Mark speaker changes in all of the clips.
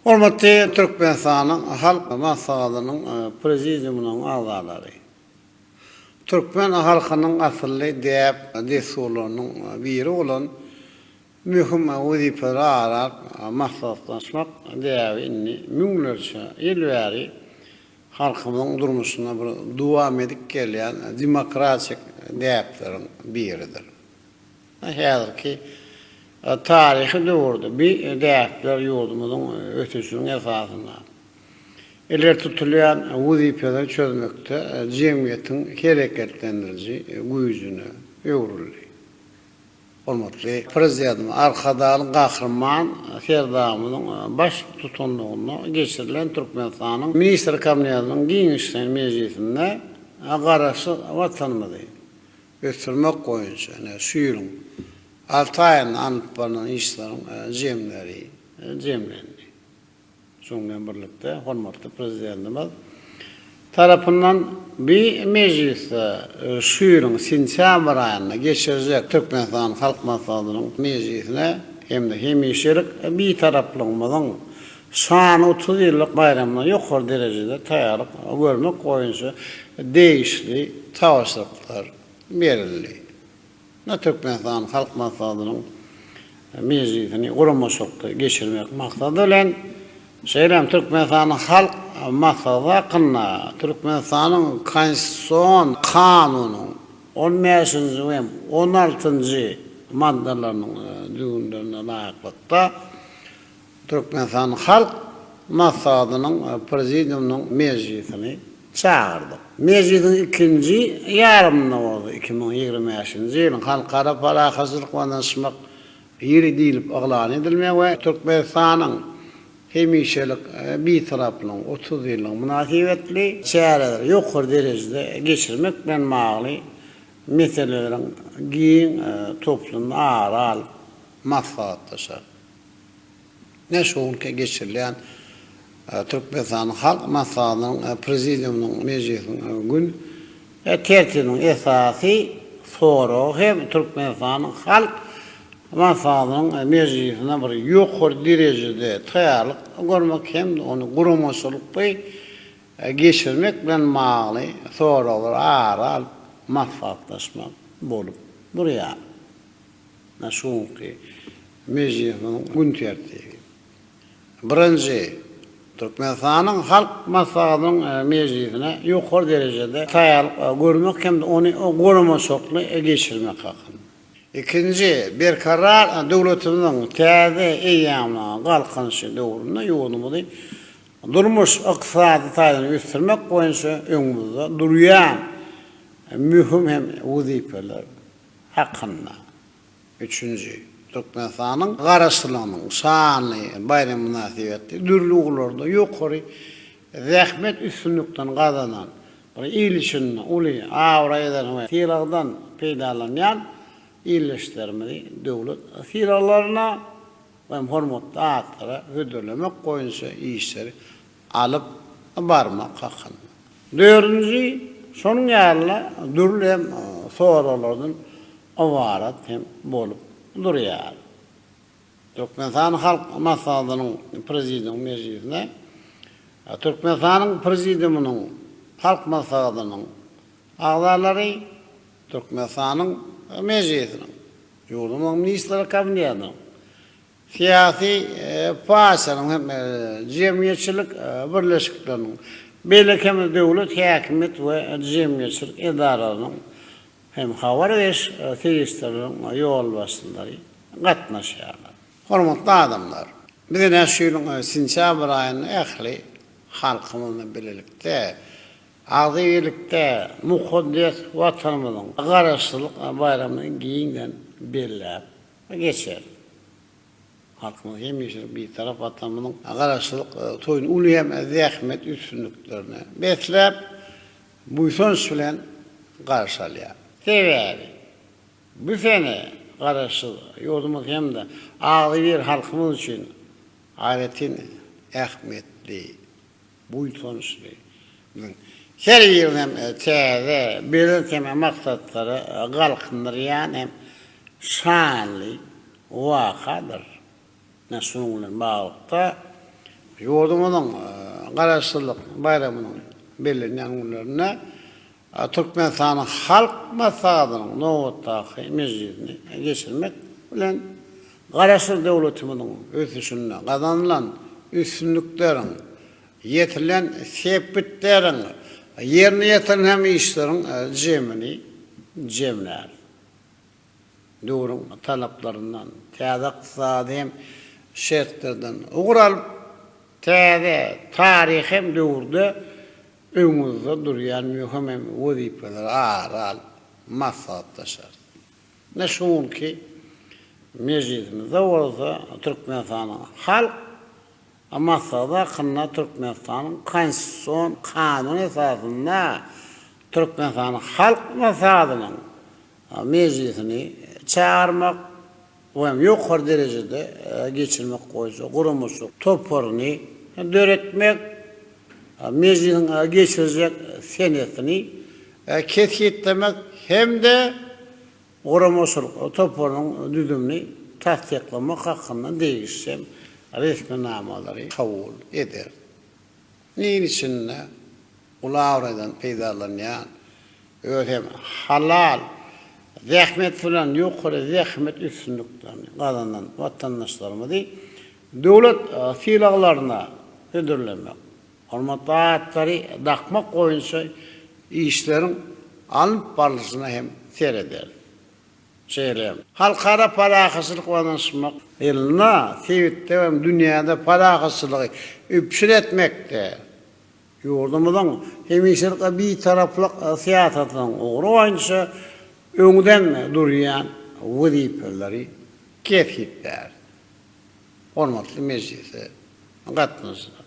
Speaker 1: Hormatly Türkmenistanyň Halk Maslahatynyň Prezidiumynyň agzalary! Türkmen halkynyň asylly däp-dessurlarynyň biri bolan möhüm wezipeleri arap maslahatlaşmak däbi indi müňlerçe ýyl bäri halkymyzyň durmuşynda bir dowam edip gelýän demokratik däpleriň biridir. Häzirki taryhy döwürde bi däpler ýurdumyzyň ösüşiniň esasynda ileri tutulýan wezipeleri çözmekde jemgyýetiň hereketlendiriji güýjüne öwrüldi. Hormatly Prezidentimiz Arkadagly Gahryman Serdarymyzyň baş tutanlygynda geçirilen Türkmenistanyň Ministr Kabinetiniň giňişleýin mejlisinde Garaşsyz Watanymyzy, ösdürmek boýunça şu ýylyň alty aýynda alnyp barlan işleriň jemleri jemlendi. Şunuň bilen birlikde, hormatly Prezidentimiz tarapyndan bu mejlisde şu ýylyň sentýabr aýynda geçirjek Türkmenistanyň Halk Maslahatynyň mejlisine hem-de hemişelik Bitaraplygymyzyň Şany otuz ýyllyk baýramyna ýokary derejede taýýarlyk görmek boýunça degişli tabşyryklar berildi. Munda Türkmenistanyň Halk Maslahatynyň mejlisini guramaçylykly geçirmek maksady bilen, şeýle hem Türkmenistanyň Halk Maslahaty hakynda Türkmenistanyň Konstitusion Kanunynyň on bäşinji we on altynjy maddalarynyň düzgünlerine laýyklykda, Türkmenistan Halk Maslahatynyň Prezidiumynyň mejlisini çagyrdyk. Mejlisiň ikinji ýarymynda bolsa iki müň ýigrimi bäşinji ýylyň Halkara parahatçylyk we ynyşmak ýyly diýlip yglan edilmegi we Türkmenistanyň hemişelik Bitaraplygynyň otuz ýyllygy mynasybetli çäreleri ýokary derejede geçirmek bilen bagly meseleleriň giň toplumyny ara alyp maslahatlaşar. Ine şu günki geçirilýän Türkmenistanyň Halk Maslahatynyň Prezidiumynyň mejlisiniň gün tertibiniň esasy soragy hem Türkmenistanyň Halk Maslahatynyň mejlisine bir ýokary derejede taýýarlyk görmek hem-de ony guramaçylykly geçirmek bilen bagly soraglary ara alyp maslahatlaşmak bolup durýar. Şu günki mejlisiň gün tertibi. Birinji, Türkmenistanyň Halk Maslahatynyň mejlisine ýokary derejede taýýarlyk görmek hem-de ony guramaçylykly geçirmek hakynda. Ikinji, Berkarar döwletimiziň täze eýýamynyň Galkynyşy döwründe ýurdumyzy durmuş-ykdysady taýdan ösdürmek boýunça öňümizde durýan möhüm hem wezipeler hakynda üçünji Türkmenistanyň Garaşsyzlygynyň şanly baýramy mynasybetli dürli ugurlarda ýokary zähmet üstünliklerini gazanan bir il üçin uly abraýdan we sylagdan peýdalanýan ildeşlerimizi döwlet sylaglaryna we hormatly atlara hödürlemek boýunça işleri alyp barmak hakynda. Dördünji, şonuň ýaly dürli hem soraglardan ybarat hem bolup durýar. Türkmenistan Halk Maslahatynyň Prezidium mejlisine Türkmenistanyň Prezidiumynyň Halk Maslahatynyň agzalary, Türkmenistanyň Mejlisiniň, ýurdumyzyň Ministrler Kabinetiniň Syýasy partiýalaryň hem jemgyýetçilik birleşikleriniň, beýleki hem döwlet häkimiýet we jemgyýetçilik edaralarynyň hem habar beriş serişdeleriniň ýolbaşçylary gatnaşýarlar. Hormatly adamlar! Biz ine şu ýylyň sentýabr aýynda ähli halkymyz bilen bilelikde, agzybir birlikde mukaddes Watanymyzyň Garaşsyzlyk baýramyny giňden belläp we geçer. Halkymyz hemişelik Bitarap Watanymyzyň Garaşsyzlyk toýuny uly hem zähmet üstünliklerine besläp, buýsanç bilen garşy alýar. Sebäbi, bu sene Garaşsyz ýurdumyz hem-de agzybir halkymyz üçin aýratyn ähmiýetli. buýsançly. Biziň her ýyl hem täze, belent hem maksatlary galkyndyrýan hem şanly wakadyr. Ine, şunuň bilen baglylykda, ýurdumyzyň Garaşsyzlyk baýramynyň bellenýän günlerinde Türkmenistanyň Halk Maslahatynyň nobatdaky mejlisini geçirmek bilen, Garaşsyz döwletimiziň ösüşinde gazanylan üstünlikleriň, ýetilen sepgitleriň, ýerine ýetirilen hem işleriň jemini jemläris. Döwrüň talaplaryndan, täze ykdysady hem şertlerden ugur alyp, täze taryhy hem döwürde Öňüňizde durýan möhüm hem wezipeleri ara alyp maslahatlaşarys. Ine şu günki mejlisimizde bolsa Türkmenistanyň Halk Maslahaty hakynda Türkmenistanyň Konstitusion Kanuny esasynda Türkmenistanyň Halk Maslahatynyň mejlisini çagyrmak, Bu hem ýokary derejede geçirmek boýunça guramaçylyk toparyny döretmek, Mejlisiň geçirjek senetini kesgitlemek hem-de guramaçylyk toparynyň düzümini tassyklamak hakynda degişli resminamalary kabul eder. Il içinde gulabraýdan peýdalanýan, özi hem halal zähmet bilen ýokary zähmet üstünliklerini gazanan watandaşlarymyzy döwlet sylaglaryna hödürlemek, hormatly atlary dakmak boýunça işleriň alnyp barlyşyna hem serederdi. Şeýle hem, Halkara parahatçylyk we ynanyşmak ýylynda sebitde hem dünýäde parahatçylygy üpjün etmekde ýurdumyzyň hemişelik Bitaraplyk syýasatynyň ugry boýunça öňden durýan wezipeleri kesgitläp, hormatly mejlise gatnaşyjylar,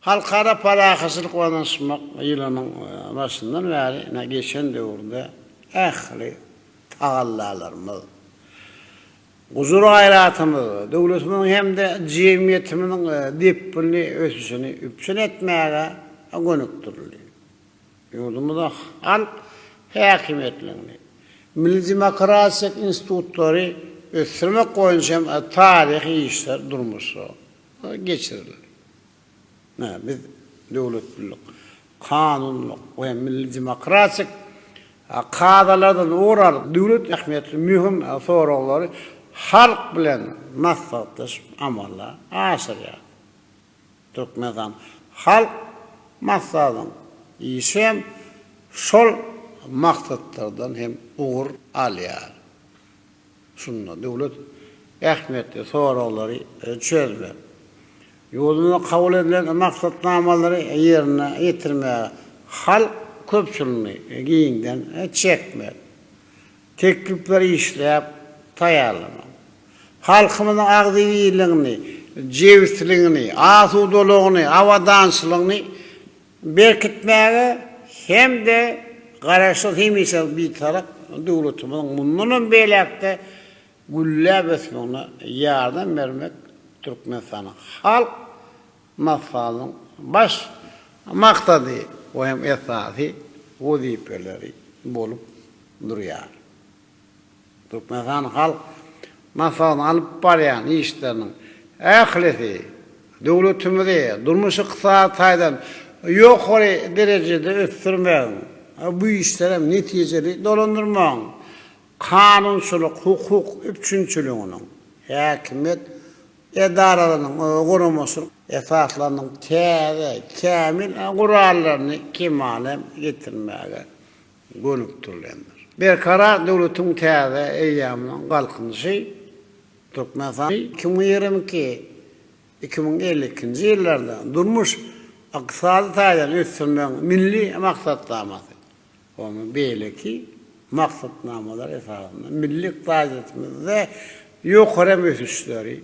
Speaker 1: Halkara parahatçylyk we ynanyşmak ýylynyň başyndan bäri ine geçen döwürde ähli tagallalarymyz, gujur-gaýratymyz döwletimiziň hem-de jemgyýetimiziň depginli ösüşini üpjün etmäge gönükdirildi. Ýurdumyzda halk häkimiýetligini, milli demokratik institutlary ösdürmek boýunça hem taryhy işler durmuşa geçirildi. Biz döwletlilik, kanunlyk we milli demokratik kadalardan ugur alyp, döwlet ähmiýetli möhüm soraglary halk bilen maslahatlaşyp amala aşyrýarys. Türkmenistan Halk Maslahatynyň işi hem şol maksatlardan hem ugur alýar. Şunda döwlet ähmiýetli soraglary çözmek, ýurdumyzda kabul edilen maksatnamalary ýerine ýetirmäge halk köpçüligini giňden çekmek, teklipleri işläp taýýarlamak, halkymyzyň agzybirligini, jebisligini, asudalygyny, abadançylygyny, berkitmäge hem-de Garaşsyz, hemişe Bitarap döwletimiziň mundan hem beýläk-de gülläp ösmegine ýardam bermek Türkmenistanyň Halk Maslahatynyň baş maksady we hem esasy wezipeleri bolup durýar. Türkmenistan halk maslahatynyň alyp barýan işleriniň ählisi döwletimizi durmuş-ykdysady taýdan ýokary derejede ösdürmegiň, bu işleri hem netijeli dolandyrmagyň, kanunçylyk-hukuk üpjünçiliginiň, häkimiýet edaralarynyň guramaçylyk esaslarynyň täze, kämil gurallaryny kemala getirmäge gönükdirilendir. Berkarar döwletiň täze eýýamynyň Galkynyşy Türkmenistanyň iki müň ýigrimi iki, iki müň elli ikinji ýyllarda durmuş-ykdysady taýdan ösdürmegiň milli maksatnamasy, onuň beýleki maksatnamalary esasynda milli ykdysadyýetimizde ýokary hem ösüşleri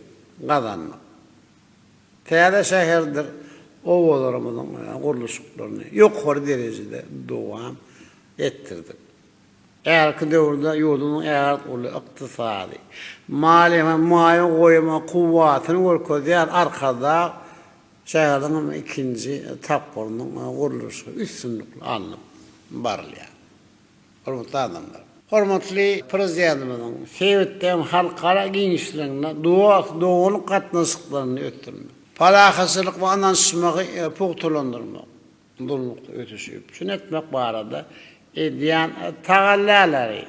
Speaker 1: gazandyk. Täze şäherdir obalarymyzyň gurluşyklaryny ýokary derejede dowam etdirdik. Häzirki döwürde ýurdumyzyň ägirt uly ykdysady, maliýe we maýa goýum kuwwatyny görkezýän Arkadag şäheriniň hem ikinji tapgyrynyň gurluşygy üstünlikli alnyp barylýar. Hormatly adamlar! Hormatly Prezidentimiziň sebitde hem halkara giňişliginde dost-doganlyk gatnaşyklaryny ösdürmek, parahatçylyk we ynanyşmagy pugtalandyrmak, durnukly ösüşi üpjün etmek barada edýän tagallalary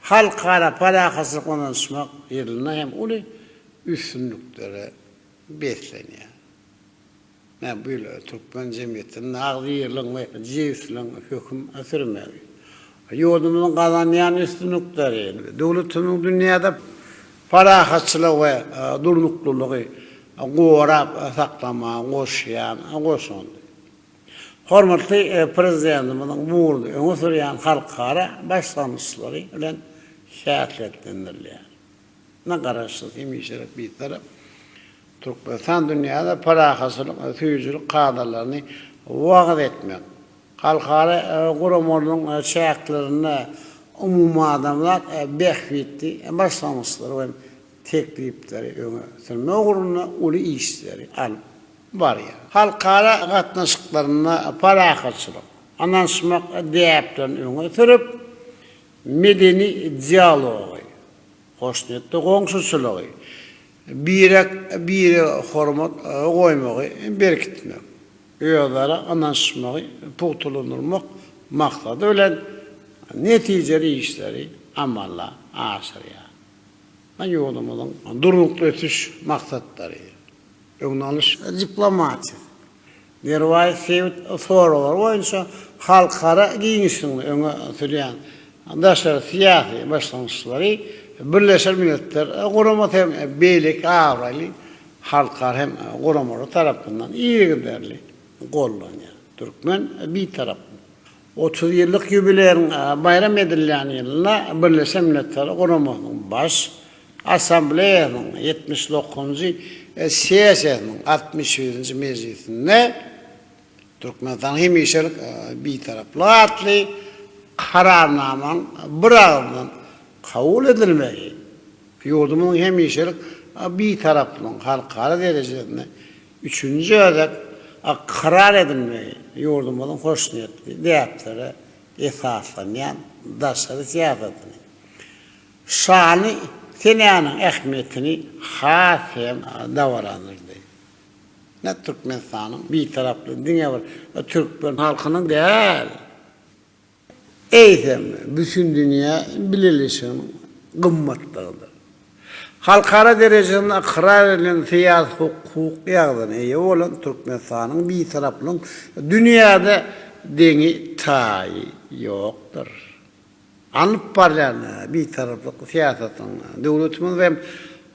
Speaker 1: Halkara parahatçylyk we ynanyşmak ýylynda hem uly üstünliklere beslenýär. Men bu ýyl türkmen jemgyýetinde naglylygyň we jebisligiň höküm sürmegi, ýurdumyzyň gazanýan üstünlikleri, döwletimiziň dünýäde parahatçylygy we durnuklylygy gorap saklamaga goşýan goşandy, hormatly Prezidentimiziň bu ugurda öňe sürýän halkara başlangyçlary bilen häsiýetlendirilýär. Dynýa garaşsyz, hemişelik Bitarap Türkmenistan dünýäde parahatçylyk we söýüjilik kadalaryny wagyz etmek, halkara guramalaryň çäklerinde umumadamzat bähbitli başlangyçlary we teklipleri öňe sürmek ugrunda uly işleri alyp barýar. Halkara gatnaşyklarynda parahatçylyk, ynanyşmak däplerini öňe sürüp, medeni dialogy, hoşniýetli goňşuçylygy, birek-bire hormat goýmagy berkitmek, özara ynanyşmagy pugtalandyrmak maksady bilen, netijeli işleri amala aşyrýar we ýurdumyzyň Durnukly ösüş maksatlary, öňde alyş diplomatiýasy, derwaýys sebit soraglar boýunça halkara giňişliginde öňe sürýän daşary syýasy başlangyçlary Birleşen Milletler Guramasy hem beýleki abraýly halkara hem guramalar tarapyndan yzygiderli gollanýar. Türkmen Bitaraplyk. Otuz ýyllyk ýubileýiň baýram edilýän ýylynda Birleşen Milletler Guramasynyň Baş Assambleýasynyň ýetmiş dokuzynjy sessiýasynyň altmyş birinji mejlisinde Türkmenistanyň hemişelik Bitaraplyk atly Kararnamanyň biragyzdan kabul edilmegi ýurdumyzyň hemişelik Bitaraplygynyň halkara derejesinde Üçünji gezek ykrar edilmegi ýurdumyzyň hoşniýetli däplere esaslanýan daşary syýasatyny, şany senäniň ähmiýetini has hem dabaralandyrdy. Ine, Türkmenistanyň Bitaraplygy diňe bir türkmen halkynyň däl. eýsem, bütindünýä bileleşiginiň gymmatlygydyr. Halkara derejesinde ykrar edilen syýasy-hukuk ýagdaýyna eýe bolan Türkmenistanyň Bitaraplygyň dünýäde deňi-taýy ýokdur. Alnyp barylýan Bitaraplyk syýasatynyň döwletimiz hem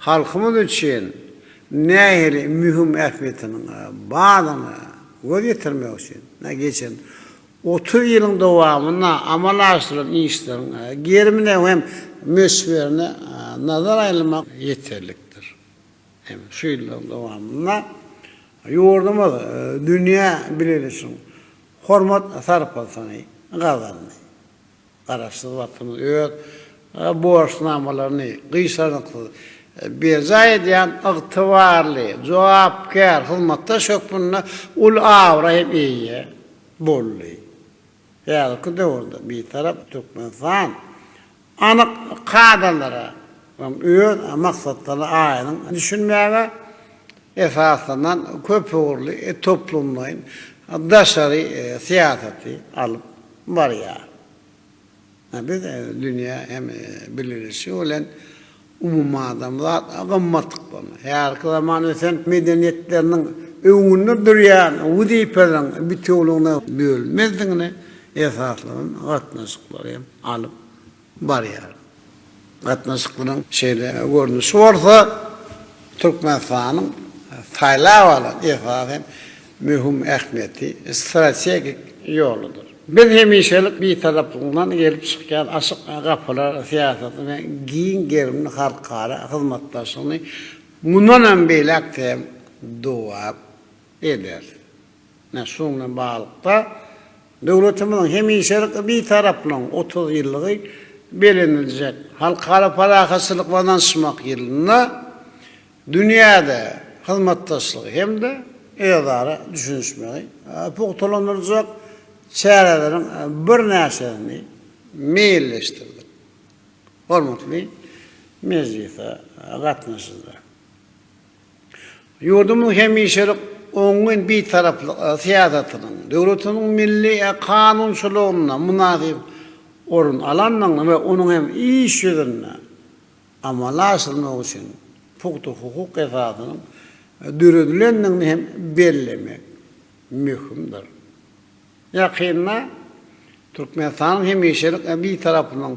Speaker 1: halkymyz üçin nähili möhüm ähmiýetiniň bardygyna göz ýetirmek üçin geçen Otuz ýylyň dowamynda amala aşyrylan işleriň gerimine hem möçberine nazar aýlamak ýeterlikdir. Hem şu ýyllaryň dowamynda ýurdumyz dünýä bileleşigiň hormat-sarpasyny gazandy. Garaşsyz wagtymyz öz borçnamalaryny gyşarnyksyz berjaý edýän ygtybarly, jogapkär hyzmatdaş hökmünde uly abraý hem eýe boldy. Häzirki döwürde Bitarap Türkmenistan anyk kadalara, Onuň öz maksatlaryna aýdyň düşünmäge esaslanan köpugurly toplumlaýyn daşary syýasaty alyp barýar. Biz dünýä hem birleşigi bilen umumadamzat gymmatlyklaryny, häzirki zaman ösen medeniýetleriniň öňünde durýan wezipeleriň bitewüligine bölünmezdigine esaslanan gatnaşyklary hem alyp barýar. Gatnaşyklaryň şeýle görnüşi bolsa Türkmenistanyň saýlap alan esasan möhüm ähmiýeti, strategik ýoludyr. Biz hemişelik Bitaraplygyňdan gelip çykýan açyk gapylar syýasatyny we giň gerimli halkara hyzmatdaşlygyny mundanam beýläk-de hem dowam ederis. Ine, şunuň bilen baglylykda, döwletimiziň hemişelik Bitaraplygynyň otuz ýyllygy belleniljek Halkara parahatçylyk we ynanyşmak ýylynda dünýäde hyzmatdaşlygy hem-de özara düşünişmegi pugtalandyrjak çäreleriň birnäçesini meýilleşdirdik. Hormatly mejlise gatnaşyjylar! Ýurdumyzyň hemişelik oňyn bitaraplyk syýasatynyň, döwletimiziň milli kanunçylygynda mynasyp orun alandygyny we onuň hem iş ýüzünde amala aşyrmak üçin pugta hukuk esasynyň döredilendigini hem bellemek möhümdir. Ýakynda Türkmenistanyň hemişelik Bitaraplygynyň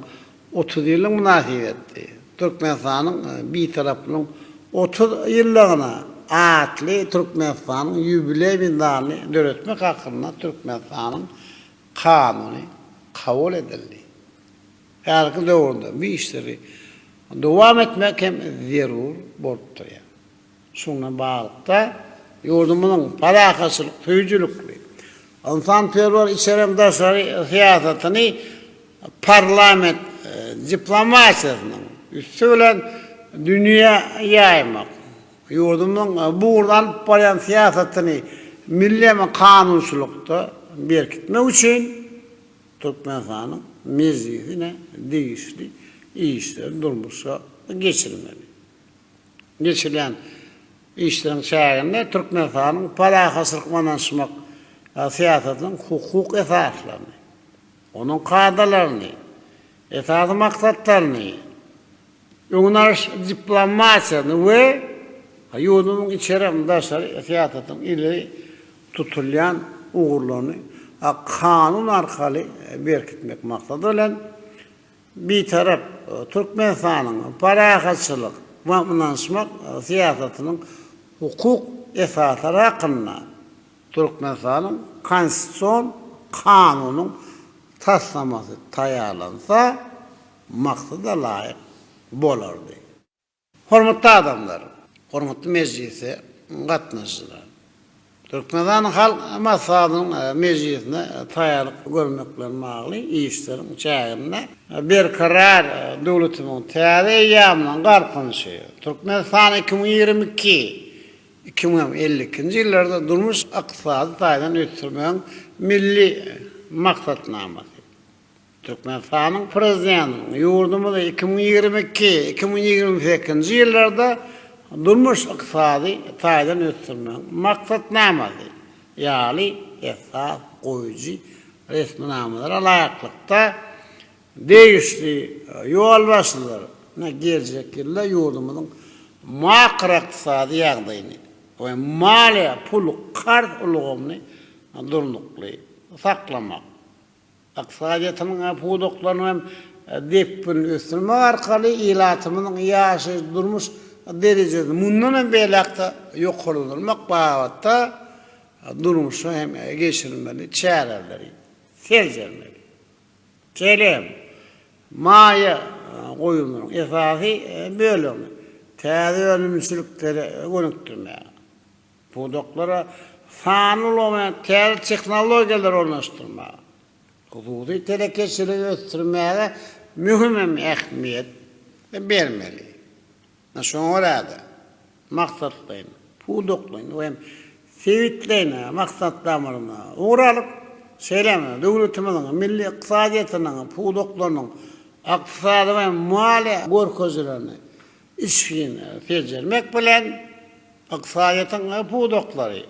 Speaker 1: otuz ýyllygy mynasybetli Türkmenistanyň Bitaraplygynyň otuz ýyllygyna atly Türkmenistanyň ýubileý medalyny döretmek hakynda Türkmenistanyň Kanuny kabul edildi. Häzirki döwürde bu işleri dowam etmek hem zerur bolup durýar. Şuňa baglylykda, ýurdumyzyň parahatçylyk söýüjilikli, ynsanperwer içeri hem daşary syýasatyny parlament diplomatiýasynyň üsti bilen dünýä ýaýmak, ýurdumyzyň bu ugurda alyp barýan syýasatyny milli hem kanunçylykda berkitmek üçin Türkmenistanyň Mejlisine degişli işleri durmuşa geçirmeli. Geçirilýän işleriň çäginde Türkmenistanyň parahatçylyk ynanyşmak syýasatynyň hukuk esaslaryny, onuň kadalaryny, esasy maksatlaryny, öňüni alyş diplomatiýasyny we ýurdumyzyň içeri hem daşary syýasatynyň ileri tutulýan ugurlaryny kanun arkaly berkitmek maksady bilen, Bitarap Türkmenistanyň parahatçylyk we ynanyşmak syýasatynyň hukuk esaslary hakynda Türkmenistanyň Konstitusion kanunyň taslamasy taýýarlansa, maksada laýyk bolardy. Hormatly adamlar, hormatly mejlise gatnaşyjylar! Türkmenistanyň Halk Maslahatynyň mejlisine taýýarlyk görmek bilen bagly işleriň çäginde Berkarar döwletimiziň täze eýýamynyň Galkynyşy, Türkmenistan iki müň ýigrimi iki, iki müň elli ikinji ýyllarda durmuş-ykdysady taýdan ösdürmegiň Milli maksatnamasy, Türkmenistanyň Prezidentiniň ýurdumyzy iki müň ýigrimi iki, iki müň ýigrimi sekizinji ýyllarda durmuş-ykdysady taýdan ösdürmegiň Maksatnamasy ýaly esas goýujy resminamalara laýyklykda, degişli ýolbaşçylaryna geljek ýylda ýurdumyzyň makroykdysady ýagdaýyny we maliýe-pul-karz ulgamyny durnukly saklamak, Ykdysadyýetimiziň äh pudaklaryny hem depginli ösdürmek arkaly ilatymyzyň ýaşaýyş-durmuş derejesini mundan hem beýläk-de ýokarlandyrmak babatda durmuşa hem geçirilmeli çäreleri seljermeli. Şeýle hem maýa goýumlaryň esasy bölegini täze önümçiliklere gönükdirmäge, pudaklara sanly ulgam we täze tehnologiýalary ornaşdyrmaga, hususy telekeçiligi ösdürmäge möhüm hem ähmiýet bermeli. Şoňa görä-de, maksatlaýyn, pudaklaýyn we hem sebitleýin maksatnamalarymyza ugur alyp, şeýle hem döwletimiziň milli ykdysadyýetiniň pudaklarynyň ykdysady we maliýe görkezilerini Içgini seljermek bilen, ykdysadyýetiň ähli pudaklary,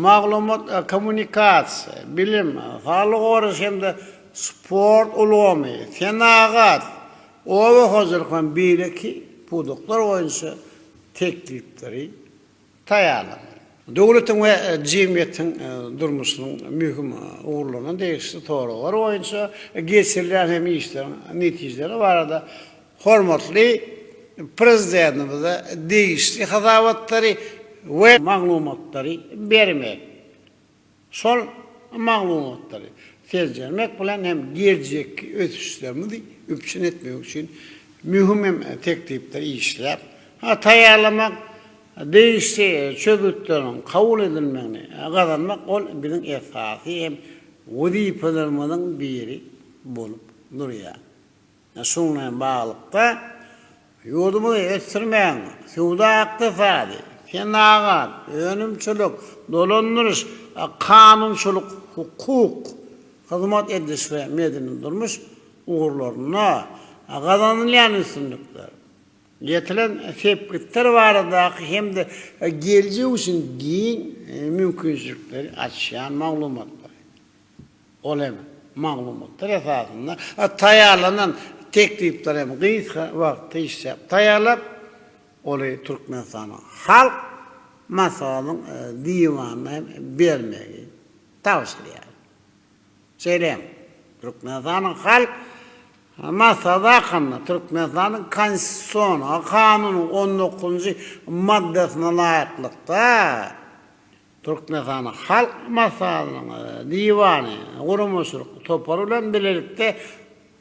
Speaker 1: maglumat-kommunikasiýa, bilim, saglygy goraýyş hem-de sport ulgamy, senagat, oba hojalyk we beýleki pudaklar boýunça teklipleri, taýýarlandy. Döwletiň we jemgyýetiň durmuşynyň möhüm ugurlaryna degişli soraglar boýunça geçirilýän hem işleriň netijeleri barada hormatly Prezidentimize degişli hasabatlary we maglumatlary bermek Şol maglumatlary seljermek bilen hem geljekki ösüşlerimizi üpjün etmek üçin möhüm hem teklipleri işläp taýýarlamak, degişli çözgütleriň kabul edilmegini gazanmak ol biziň esasy hem wezipelerimiziň biri bolup durýar. Şunuň bilen baglylykda, ýurdumyzy ösdürmegiň söwda-ykdysady, senagat, önümçilik, dolandyryş, kanunçylyk, hukuk, hyzmat ediliş we medeni-durmuş ugurlarynda gazanylýan üstünlikler, ýetilen sepgitler baradaky hem-de geljek üçin giň mümkinçilikleri açýan maglumatlary, Ol hem maglumatlar esasynda taýýarlanan teklipleri hem gysga wagt işläp taýýarlap, oly Türkmenistanyň Halk Maslahatynyň Diwanyna hem bermegi tabşyrýar. Şeýle hem Türkmenistanyň Halk Maslahaty hakynda Türkmenistanyň Konstitusion Kanunynyň on dokuzynjy maddasyna laýyklykda, Türkmenistan Halk Maslahatynyň Diwany guramaçylyk topary bilen bilelikde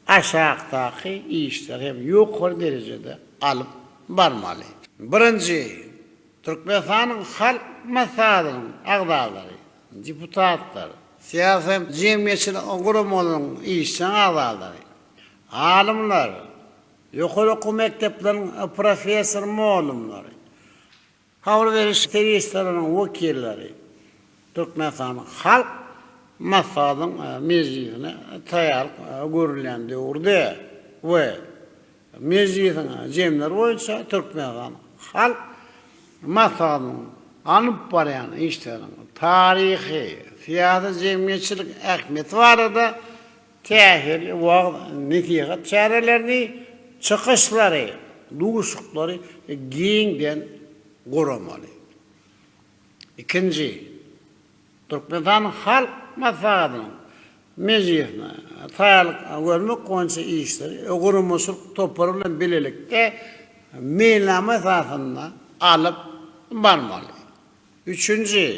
Speaker 1: aşakdaky işleri hem ýokary derejede alyp barmaly. Birinji, Türkmenistanyň Halk Maslahatynyň agzalary, deputatlar, syýasy-jemgyýetçilik guramalaryň işjeň agzalary, alymlar, ýokary okuw mekdepleriniň professor-mugallymlary, Habar beriş serişdeleriniň wekilleri Türkmenistanyň Halk Maslahatynyň mejlisine taýýarlyk görülýän döwürde we mejlisiň jemleri boýunça Türkmenistan Halk Maslahatynyň alyp barýan işleriniň taryhy, syýasy-jemgyýetçilik ähmiýeti barada Täsirli wagyz-nesihat çärelerini, çykyşlary, duşuklary giňden guramaly. Ikinji, Türkmenistanyň Halk Maslahatynyň mejlisine taýýarlyk görmek boýunça işleri guramaçylyk topary bilen bilelikde meýilnama esasynda alyp barmaly. Üçünji,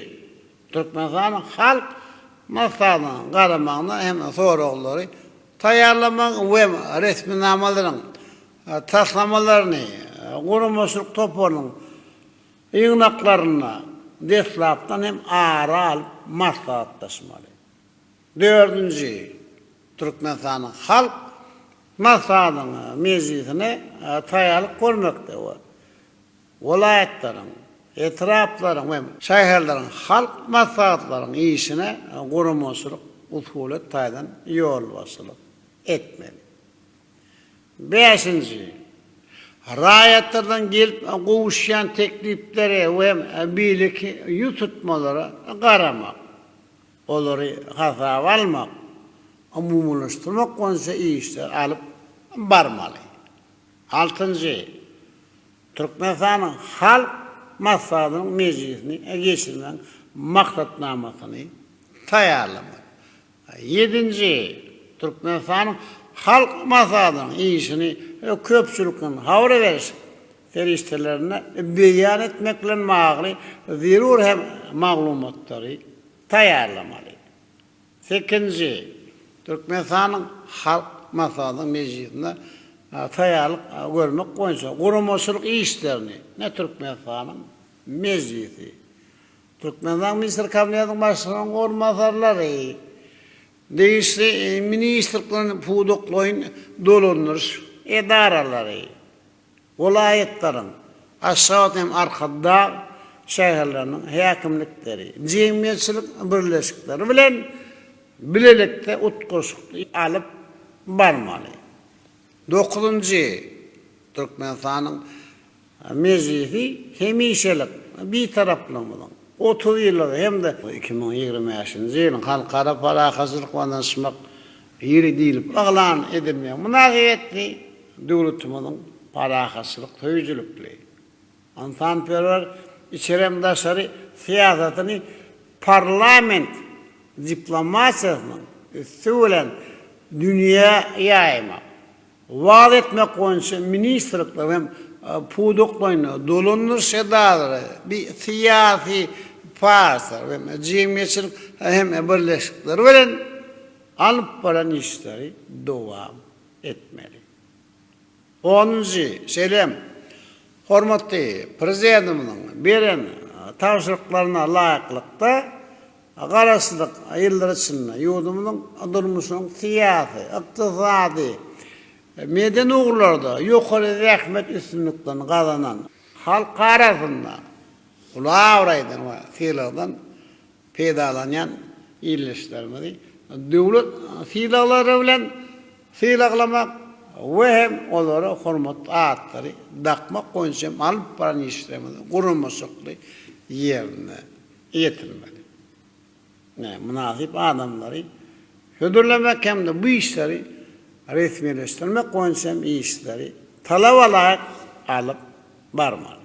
Speaker 1: Türkmenistanyň Halk Maslahatynyň garamagyna hem soraglary taýýarlamak we resminamalaryň taslamalaryny guramaçylyk toparynyň ýygnaklarynda deslapdan hem ara alyp maslahatlaşmaly. Dördünji, Türkmenistanyň Halk Maslahatynyň mejlisine taýýarlyk görmekde we welaýatlaryň, etraplaryň we şäherleriň halk maslahatlaryň işine guramaçylyk-usulyýet taýdan ýolbaşçylyk etmeli. Bäşinji, raýatlardan gelip gowuşýan tekliplere we beýleki ýüz tutmalara garamak, olary hasaba almak, umumylaşdyrmak boýunça işleri alyp barmaly. Altynjy, Türkmenistanyň Halk Maslahatynyň mejlisini geçirmegiň maksatnamasyny taýýarlamak. Ýedinji, Türkmenistanyň Halk Maslahatynyň işini köpçülikleýin habar beriş serişdelerinde beýan etmek bilen bagly zerur hem maglumatlary taýýarlamaly. Sekinji, Türkmenistanyň Halk Maslahatynyň mejlisinde taýýarlyk görmek boýunça guramaçylyk işlerini ne Türkmenistanyň Mejlisi, Türkmenistanyň Ministrler Kabinetiniň Başlygynyň orunbasarlary, degişli ministrlikleriň pudaklaýyn dolandyryş edaralary, Welaýatlaryň, Aşgabat hem Arkadag şäherleriniň häkimlikleri, jemgyýetçilik birleşikleri bilen bilelikde utgaşykly alyp barmaly. Dokuzynjy, Türkmenistanyň Mejlisi hemişelik Bitaraplygymyzyň otuz ýyllygy hem-de iki müň ýigrimi bäşinji ýylyň Halkara parahatçylyk we ynanyşmak Biri diýlip yglan edilmegi mynasybetli döwletimiziň parahatçylyk söýüjilikli, ynsanperwer içeri hem daşary syýasatyny parlament diplomatiýasynyň üsti bilen dünýä ýaýmak, wagyz etmek boýunça ministrlikler hem pudaklaýyn dolandyryş edaralary, bi syýasy partiýalar hem jemgyýetçilik hem birleşikler bilen alyp baran işleri dowam etmeli. Onunjy, şeýle hem hormatly Prezidentimiziň beren tabşyryklaryna laýyklykda, Garaşsyzlyk ýyllary içinde ýurdumyzyň durmuşynyň syýasy, ykdysady, medeni ugurlarda ýokary zähmet üstünliklerini gazanan, halk arasynda uly abraýdan we sylagdan peýdalanýan ildeşlerimizi döwlet sylaglary bilen sylaklamak we hem olara hormatly atlary dakmak boýunça hem alyp baran işlerimizi guramaçylykly ýerine ýetirmeli. Nä, mynasyp adamlary hödürlemek hem-de bu işleri resmileşdirmek boýunça hem işleri talabalaýyk alyp barmaly.